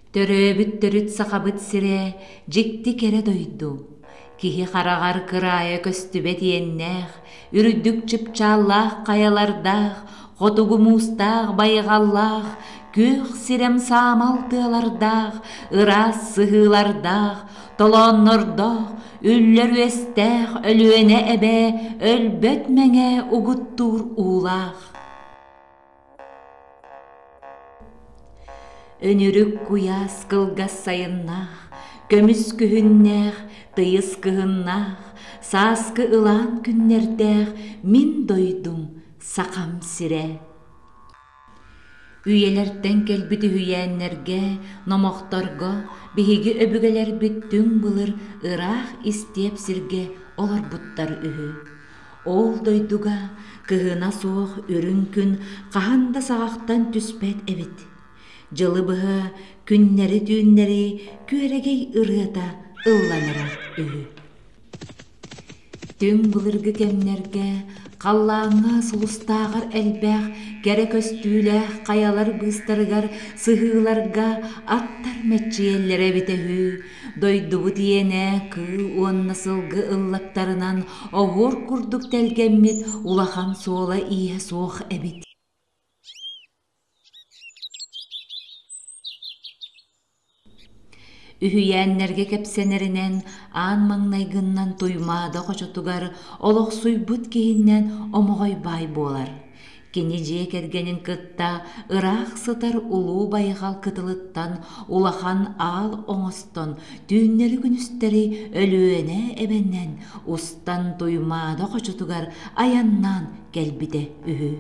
Төрөөбүт төрүт Сахабыт сирэ дьикти кэрэ дойду, киһи хараҕар кыраайа көстүбэт иэннээх, үрдүк чыпчааллаах хайалардаах, хотугу муустаах байҕаллаах, күөх сирэм саамал тыалардаах, ыраас сыһыылардаах, толооннордоох, үллэр үөстээх Өлүөнэ эбэ өлбөт мэҥэ угуттуур уулаах. Өнүрүк куйаас кылгас сайыннаах, көмүс күһүннээх, тыйыс кыһыннаах, сааскы ылаан күннэрдээх мин дойдум Сахам сирэ. Үйэлэртэн кэлбит үһүйээннэргэ, номохторго биһиги өбүгэлэрбит түҥ былыр ыраах истиэп сиргэ олорбуттар үһү. Ол дойдуга кыһына суох үрүҥ күн хаһан да саҕахтан түспэт эбит. Дьылы быһа күннэри-түүннэри күөрэгэй ырыата ылланара үһү. Түҥ былыргы кэмнэргэ халлааҥҥа сулустааҕар элбэх кэрэ көстүүлээх хайалар быыстарыгар сыһыыларга аттар мэччийэллэрэ эбитэ үһү Дойдубут иэнэ кыыл уонна сылгы ыллактарынан оһуор курдук тэлгэммит улахан суола-ииһэ суох эбит. Үһүйээннэргэ кэпсэнэринэн, аан маҥнай гыннан Туймаада хочотугар олохсуйбут киһиннэн омоҕой баай буолар. Кини дьиэ кэргэнин кытта ыраах сытар улуу байҕал кытылыттан улахан аал оҥостон түүннэри-күнүстэри Өлүөнэ эбэнэн устан Туймаада хочотугар айаннаан кэлбитэ үһү.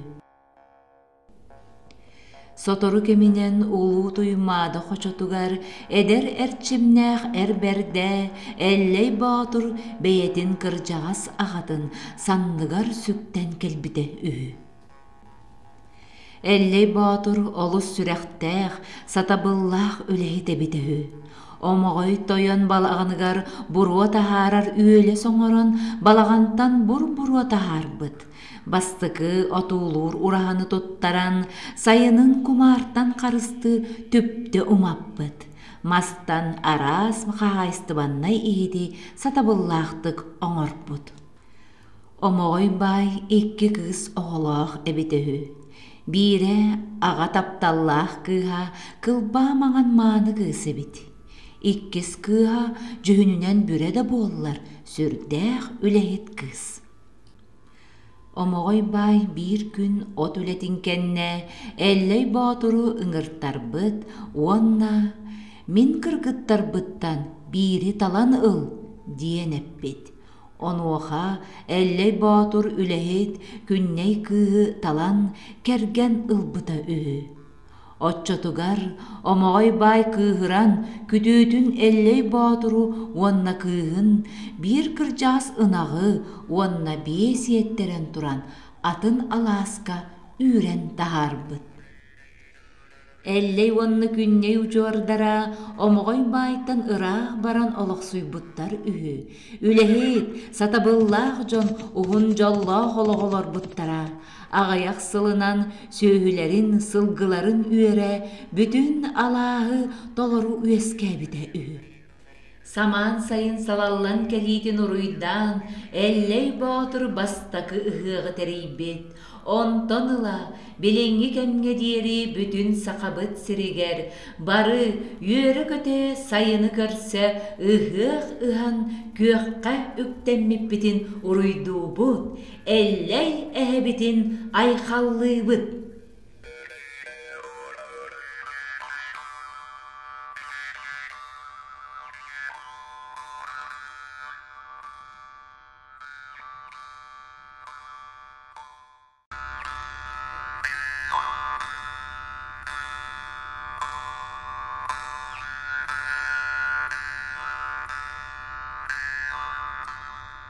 Сотору кэминэн Улуу Туймаада хочотугар эдэр эрчимнээх эр бэрдэ Эллэй Боотур бэйэтин кырдьаҕас аҕатын санныгар сүктэн кэлбитэ үһү. Эллэй Боотур олус сүрэхтээх, сатабыллаах үлэһит эбит үһү. Омоҕой тойон балаҕаныгар буруо таһаарар үөлэс оҥорон балаҕантан бур-буруо таһаарбыт. Бастакы отуулуур ураһаны туттаран, сайынын кумаартан харыстыы түптэ умаппыт. Мастан араас хаһаайыстыбаннай иһити сатабыллаахтык оҥорпут. Омоҕой баай икки кыыс оҕолоох эбитэ үһү. Биирэ аҕа тапталлаах кыыһа кылбаа маҥан мааны кыыс эбит. Иккис кыыһа дьүһүнүнэн бүрэ да буоллар сүрдээх үлэһит кыыс. Омоҕой баай биир күн от үлэтин кэннэ Эллэй Боотуру ыҥыртарбыт уонна «Мин кыргыттарбыттан биири талан ыл» диэн эппит. Онуоха Эллэй Боотур үлэһит Күннэй кыыһы талан кэргэн ылбыта үһү. Оччотугар Омоҕой баай кыыһыран күтүөтүн Эллэй Боотуру уонна кыыһын биир кырдьаҕас ынаҕы уонна биэс иэттэрэн туран атын алааска үүрэн таһаарбыт. Эллэй уонна Күннэй удьуордара Омоҕой баайтан ыраах баран олохсуйбуттар үһү. Үлэһит, сатабыллаах дьон уһун дьоллоох олоҕу олорбуттара. аҕыйах сылынан сүөһүлэрин сылгыларын үөрэ бүтүн алааһы толору үөскээбитэ үһү самаан сайын салаллан кэлиитин уруйдаан эллэй боотур бастакы ыһыаҕы тэрийбит онтон ыла билиҥҥи кэмҥэ диэри бүтүн сахабыт сиригэр бары үөрэ-көтө сайыны көрсө ыһыах ыһан күөххэ үктэммиппитин уруйдуубут Эллэй эһэбитин айхаллыыбыт.